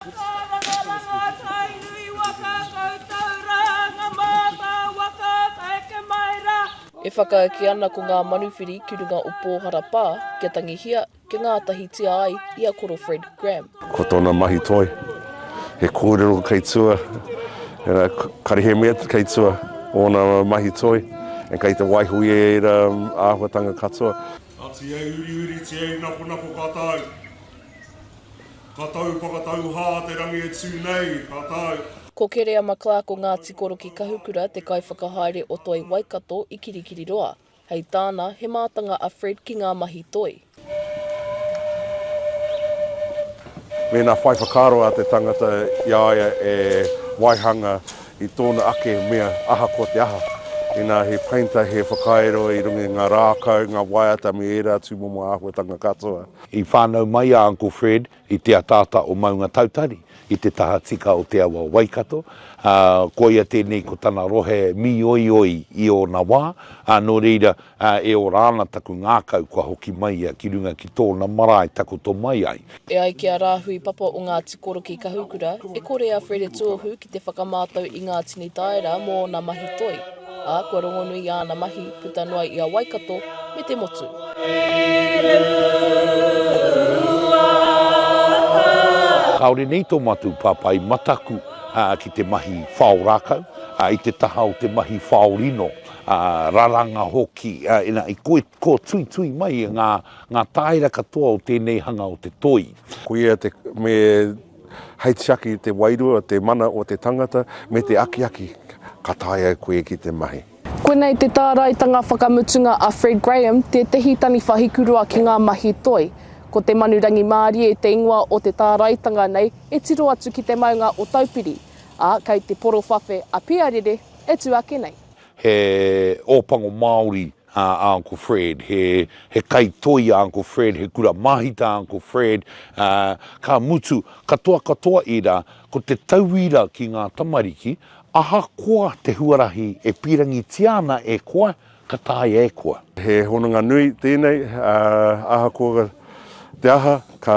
Marama mātai nui waka koutou rā ngā mātā waka take mai rā. E whakaeke ana ko ngā manuwhiri ki runga o Pōhara Pā kia tangihia, kia ngātahitia ai i a Koro Fred Graham. Ko tōna mahi toi, he kōrero kei tua, karihe mea kei tua ōna mahi toi, and kei te waiho i ēra āhuatanga katoa. Ati hei uriuri, ti hei nakonako ka tae. Ka tau whakatauhā te rangi e tū nei, ka tau. Ko Kerea McClark o Ngāti Koroki Kahukura te kaiwhakahaere o Toi Waikato i Kirikiriroa. Hei tāna, he mātanga a Fred ki ngā mahi toi. Mēnā whai whakaaro a te tangata i a ia e waihanga i tōna ake mea ahakoa te aha, inā he painter, he whakairo i runga i ngā rākau, ngā waiata me ērā tūmomo āhuatanga katoa. I whānau mai a Uncle Fred i te ataata o Maungatautari, i te tahatika o te awa o Waikato, ā, koia tēnei ko tana rohe mīoioi i ōna wā, ā, nō reira, ā, e ora ana taku ngākau kua hoki mai ia ki runga ki tōna marae takoto mai ai. E ai ki a Rāhui Papa o Ngāti Korokī Kahukura, e kore a Fred e tuohu ki te whakamātau i ngā tini taera mō ōna mahi toi. ā, kua rongonui i āna mahi puta noa i a Waikato me te motu. Kāore nei tō mātou papai mataku ki te mahi whao rākau, i te taha o te mahi whao rino, raranga hoki, ina i kōtuitui mai ngā tāera katoa o tēnei hanga o te toi. Koia te, me Hei tiaki i te wairua, te mana o te tangata, me te akiaki, ka taea koe ki te mahi. Koinei te tāraitanga whakamutunga a Fred Graham, tētehi taniwha hikurua ki ngā mahi toi. Ko te manu rangimārie te ingoa o te tāraitanga nei e tiro atu ki te maunga o Taupiri, ā, kei te porowhawhe a Piarere e tū ake nei. He ōpango Māori a Uncle Fred, he he kai toi a Uncle Fred, he kura māhita a Uncle Fred, ā, ka mutu, katoa katoa ērā, ko te tauira ki ngā tamariki, ahakoa te huarahi e pīrangitia ana e koe, ka taea e koe. He hononga nui tēnei, ā, ahakoa te aha, ka